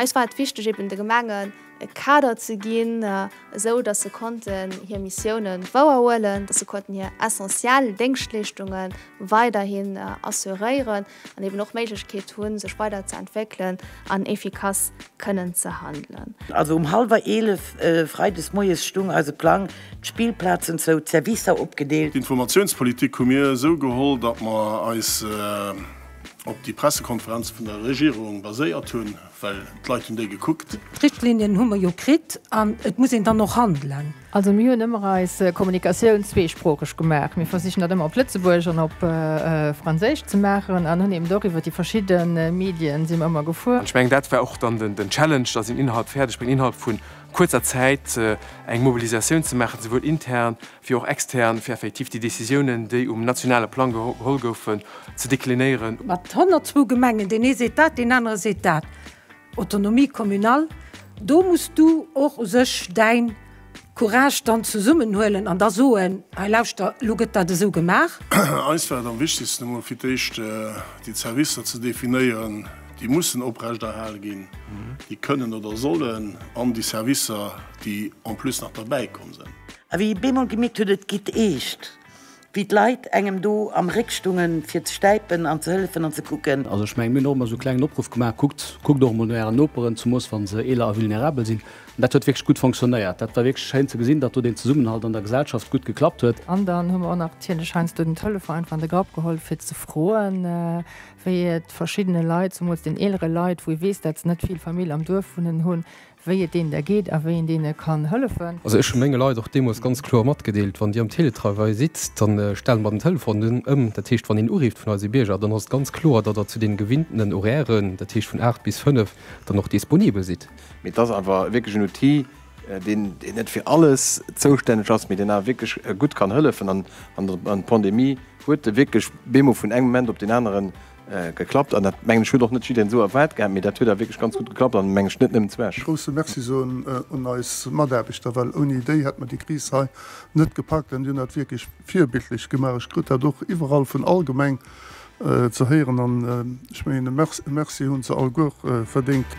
Eis war et wichteg eben de Gemengen e Kader ze ginn, esou datt se konnten hir Missiounen wouerhuelen, datt se konnten hir essentiell Déngschtleeschtunge weiderhin assuréieren an eben och Méiglechkeet hu sech weider ze entwéckelen an efficace kënnen ze handelen. Also um hallwer 11 Freides moies stung eise Plang, D'Spillplazen zou, d'Servicer opgedeelt. D'Informatiounspolitik hu mir esou geholl, datt mer eis op déi Pressekonferenze vun der Regierung baséiert hunn, well d'Leit hunn déi gekuckt. D'Richtlinien hu mer jo kritt an et muss een dann och handelen. Also mir hunn ëmmer eis Kommunikatioun zweesproocheg gemaach. Mir versichen dat ëmmer op Lëtzebuergesch an op Franséisch ze maachen an hunn eben do iwwer déi verschidde Medien si mer ëmmer gefuer. An ech mengen dat war och dann den Challenge, datt een innerhalb fäerdeg bréngt, innerhalb vun kuerzer Zäit eng Mobilisatioun ze maachen, souwuel intern wéi och extern, fir effektiv déi Décisiounen, déi um nationale Plang geholl goufen, ze deklinéieren. Mat 102 Gemengen, deen ee seet dat, deen anere seet dat, Autonomie communale, do muss du och u sech däin Courage dann zesummenhuelen an da soen, hei lauschter, elo gëtt dat esou gemaach. Eis war et am wichtegsten, emol fir d'éischt déi Zerwisser ze definéieren, déi mussen oprechterhale ginn, déi kënnen oder sollen, an déi Servicer, déi en plus nach derbäi komm sinn. A wéi ee bemol gemierkt huet, et geet eescht, wéi d'Leit engem do am Réck stungen, fir ze stäipen an ze hëllefen an ze kucken. Also ech mengen, mir hunn och emmer esou e klengen Opruff gemaach, Kuckt, kuckt och emol no ären Noperen, zemoos wa se eeler a vulnerabel sinn. An dat huet wierklech gutt fonctionnéiert. Dat war wierklech schéin ze gesinn, datt do deen Zesummenhalt an der Gesellschaft gutt geklappt huet. An dann hu mer och nach natierlech heiansdo den Telefon einfach an de Grapp geholl, fir ze froen, wéi et verschiddene Leit, zemools den eelere Leit, wou ee weess, dat se net vill Famill am Duerf wunnen hunn, wéi et deenen da geet a wéi een deene kann hëllefen. Also ech hu menge Leit och deemools ganz kloer matgedeelt, wann Dir am Teletravail sidd, da stelle mer den Telefon dunn ëm. Dat heescht, wann een urifft vun eise Bierger, dann ass et ganz kloer, datt Der zu deene gewinntenen Horairen, dat heescht vun 8 bis 5, dann och disponibel sidd. Mee et ass awer wierklech en Outil, deen net fir alles zoustänneg ass, mee deen awer wierklech gutt kann hëllefen an an d'Pandemie huet e wierklech bemol vun engem Moment op deen aneren geklappt an dat mengen ech huet och net jiddereen esou erwaart gehat, mee dat huet awer wierklech ganz gutt geklappt an mengen ech net nëmmen zu Esch. Grousse Merci soen un eis Mataarbechter, well ouni déi hätt mer déi Kris hei net gepackt an déi hunn dat wierklech virbildlech gemaach. Ech krut dat och iwwerall vun all Gemeng ze héieren an ech mengen e Merci hunn se alleguer verdéngt.